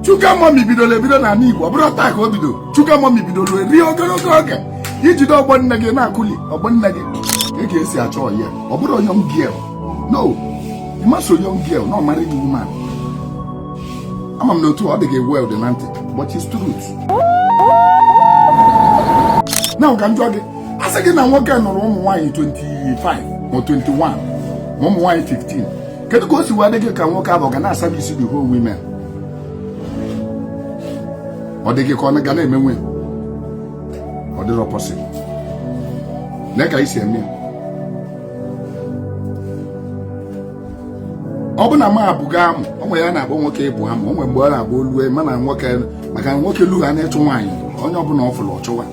sugar mummy bidoro ebido n'ala Igbo ọ bụrọ taa ka o bido sugar mummy bidoro eri ogologo oge ijide ọgbọ nne gị na-akụli ọgbọ nne gị ị ka esi achọ ya ọ bụrọ young girl no ịmaso young girl na ọ married woman ama m na otu ọ dị gị weird na ntị but it's truth na ka njọ gị a sị gị na nwoke nụrụ ụmụ nwaanyị 25 ma 21 ma ụmụ nwaanyị 15 kedu ka o si wee dị gị ka nwoke ahụ ga na-aservice the whole women ọ dị gị ka ọ ga na-emenwu ọ dịrọ possible lee ka esi eme ya ọ bụ na nwa bugo amụ o nwere ya na-agba nwoke ibu amụ o nwere mgbe ọ na-agba o lue mana nwoke maka na nwoke lugo n'ịchụ nwaanyị onye ọbụla ọ fụrụ ọ chụwa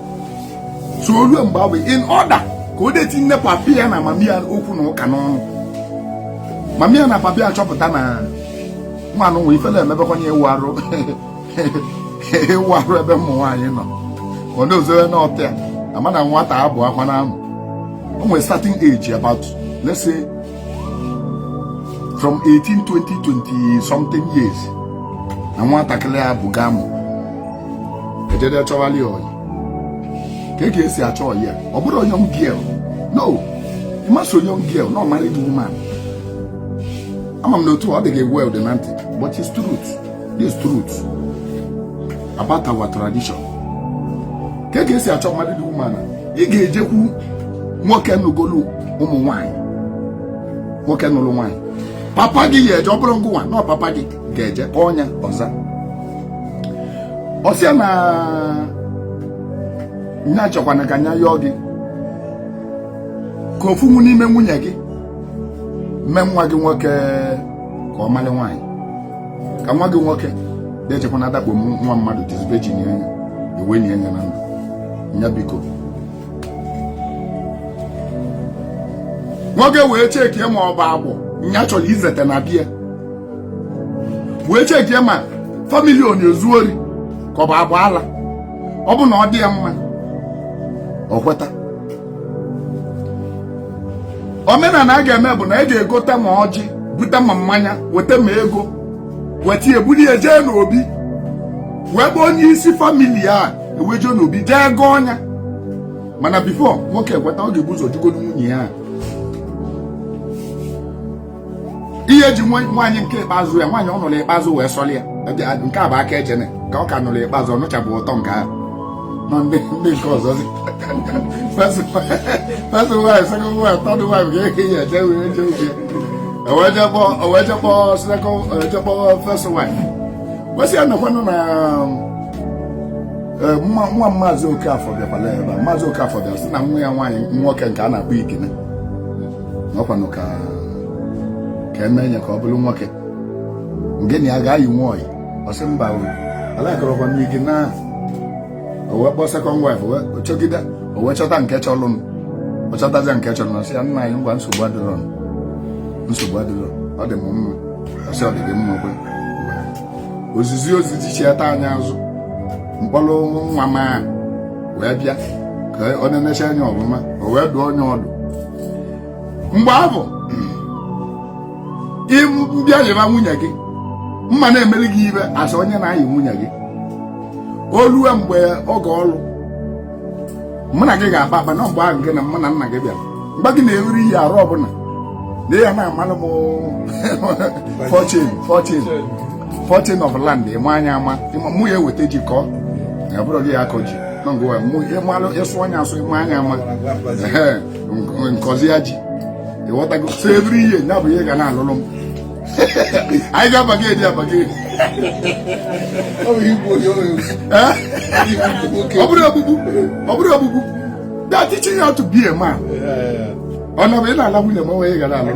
so ruo mgbe ahụ in order ka o de tinye papi ya na mami ya okwu na ụka n'ọnụ mami ya na papi ya chọpụta na nwanụ nwe ifele emebekwa na ịwụ arụ ịwụ arụ ebe ụmụ nwaanyị nọ ọ na-ezowe n'ọtịa ama na nwata ebuokwana amụ o nwere starting age about let's say from 18 20 20 something years na nwatakịrị a bugo amụ ejede chọwalị ọyị ka e ga-esi achọ ọyị a ọ bụrọ young girl no ịmasị young girl na ọ married woman ama m na otu ọ dị gị weird na ntị but it's truth this truth about our tradition ka e ga-esi achọ married woman a ị ga-ejekwu nwoke nụgolu ụmụ nwanyị nwoke nụrụ nwanyị papa gị ya eje ọ bụrọ ngịnwa na ọ papa gị ga-eje kpọọ nya ọ za ọ sị a na nya chọkwana ka nya yọọ gị ka ofu n'ime nwunye gị mee nwa gị nwoke ka ọ mara nwaanyị ka nwa gị nwoke de ejekwa na-adakpo nwa mmadụ dizbe ji nye ya e wee nye ya n'amụ nya biko nwoke wee checkie ma ọ bụ agwọ nya chọrọ izete na be ya wee checkie ma family ọ na-ezu ori ka ọ bụ agba ala ọ bụ na ọ dị ya mma ọ kweta omenala a ga-eme bụ na e ga-egote ma ọjị bute ma mmanya weta ma ego weta e bulu ya jee n'obi nwoke bụ onye isi family a e wee jee n'obi jee gọọ nya mana before nwoke ekweta ọ ga-ebu ụzọ jụgodu nwunye ya ihe ji nwaanyị nke ikpeazụ ya nwaanyị ọ nụrụ ikpeazụ wee sọrọ ya nke a bụ aka ejene ka ọ ka nụrụ ikpeazụ ọ nụchabụ ụtọ nke ahụ nọ ndị ndị nke ọzọ dị first wife second wife third wife ka ehi ya eje wee je oge e wee je kpọọ e wee je kpọọ second e wee je kpọọ first wife wee sị ya na ọ kwanụ na eh, nwa nwa maazị Okafọ bịakwala ebe a maazị Okafọ bịara sị na nwa ya nwaanyị nwoke nke a na-akpọ Ikene ọ kwanụ ka ka e mee ya ka ọ bụrụ nwoke nke na ya ga-ayị nwanyị ọ sị mba alakọrọkwa m ike na o wee kpọọ second wife ọ chọgide o wee chọta nke chọrọnụ ọ chọtazi nke chọrọnụ ọ sị ya nna anyị ngwa nsogbu adịrọ nsogbu adịrọ ọ dị m mma ọ sị ọ dị gị mma o kwe ozizi ozi jichiata anya azụ m kpọrọ nwa m wee bịa ka ọ na-enecha anya ọfụma o wee dụọ nya ọdụ mgbe ahụ m bịa yịba nwunye gị m ma na-emeli gị ihe a sị onye na-ayị nwunye gị o lue mgbe oge ọlụ mụ na gị ga-akpa akpa na mgbe ahụ gị na mụ na nna gị bịara m gwa gị na every year arọ ọbụla na ị ya na-amalụ m portion portion portion of land ị maa nya ama mụ ya eweta ji kọọ ya ọ bụrọ gị ya akọ ji na ngwa mụ ị malụ ị sụọ nya asụ ị maa nya ama m kọzie ya ji ị ghọtago so every year ya bụ ihe ị ga na-alụlụ m anyị ga-abargain e ji abargain ọ bụrụ ogbugbu ọ bụrụ ogbugbu that teaching how to be a man ọ nọ bụ ị na-ala nwunye m o nwe gara alụ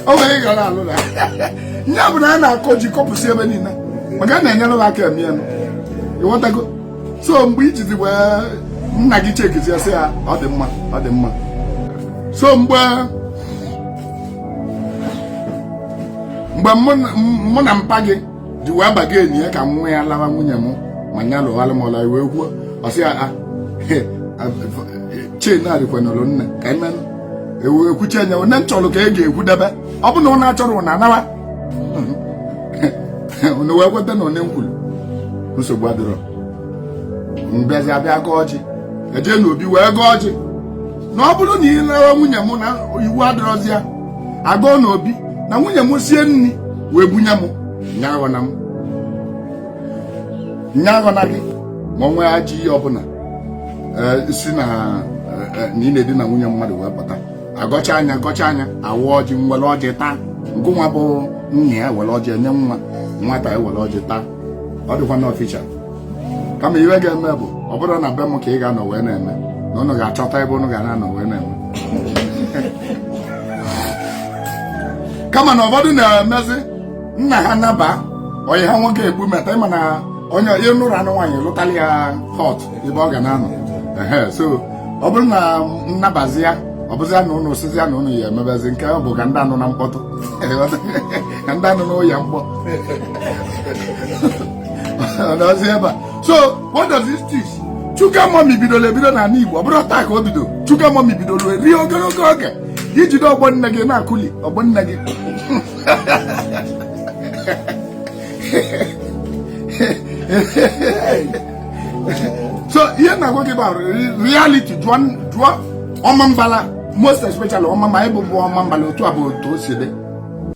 o nwe ị gara alụ na ya bụ na a na-akọ ji kọpụsị ebe niile maka a na-enyere m aka eme ya ị ghọtago so mgbe e jizi wee nna gị checkizie ya sị ya ọ dị mma ọ dị mma so mgbe mgbe mụ na mpa gị ji wee bargain ya ka nwa ya lawa nwunye m ma nya lụwalụ m ọlụ a wee kwuo ọ sị ya ah, change adịkwanụrọ nne ka ekwuchi anya onye m chọrọ ka e ga-akwụdebe ọ bụ na ụnụ achọrọ ụnụ anawa unu wee kweta na onye m kwuru nsogbu adịrọ m bịazie abịa gọọ ọjị e je na obi wee gọọ ọjị na ọ bụrụ na ị lawa nwunye m na iwu adịrọzi ya a gọọ na obi na nwunye m sie nri wee bunye m nya aghọna m nya aghọna gị ma o nwee ajọ ihe ọbụla si na ị na-edina nwunye mmadụ wee pụta agọchaa ya gọchaa ya awaa ọjị nwere ọjị taa nke nwa bụ nna ya were ọjị enye nwa nwata ya were ọjị taa ọ dịkwa na official kama ihe ga-eme bụ ọ bụrụ na be m ka ị ga-anọ wee na-eme na ụnụ ga-achọta ebe ụnụ ga na-anọ wee na-eme kama na ụfọdụ na-emezi nna ha naba ọyị ha nwoke egbu meta ịma na onye ị nụrụ anụ nwaanyị lụtara ya hot ebe ọ ga na-anọ so ọ bụrụ na nnabazi ya ọ bụzi na ụnụ sịzi ya na ụnụ ya emebezi nke ahụ bụ ka ndị anụna mkpọtụ ka ndị anụna ụya mkpọ ọ nọzi ebe a so what does this teach sugar mummy bidoro ebido na ala igbo ọ bụrọ taa ka o bido sugar mummy bidoro eri ogologo oge i jide ọgbọ nne gị na-akụli ọgbọ nne gị so ihe m na-agwa gị bụ reality jụọ ọmambala most especially ọma ma ịbụ bụ ọmambala otu a bụ otu o si dị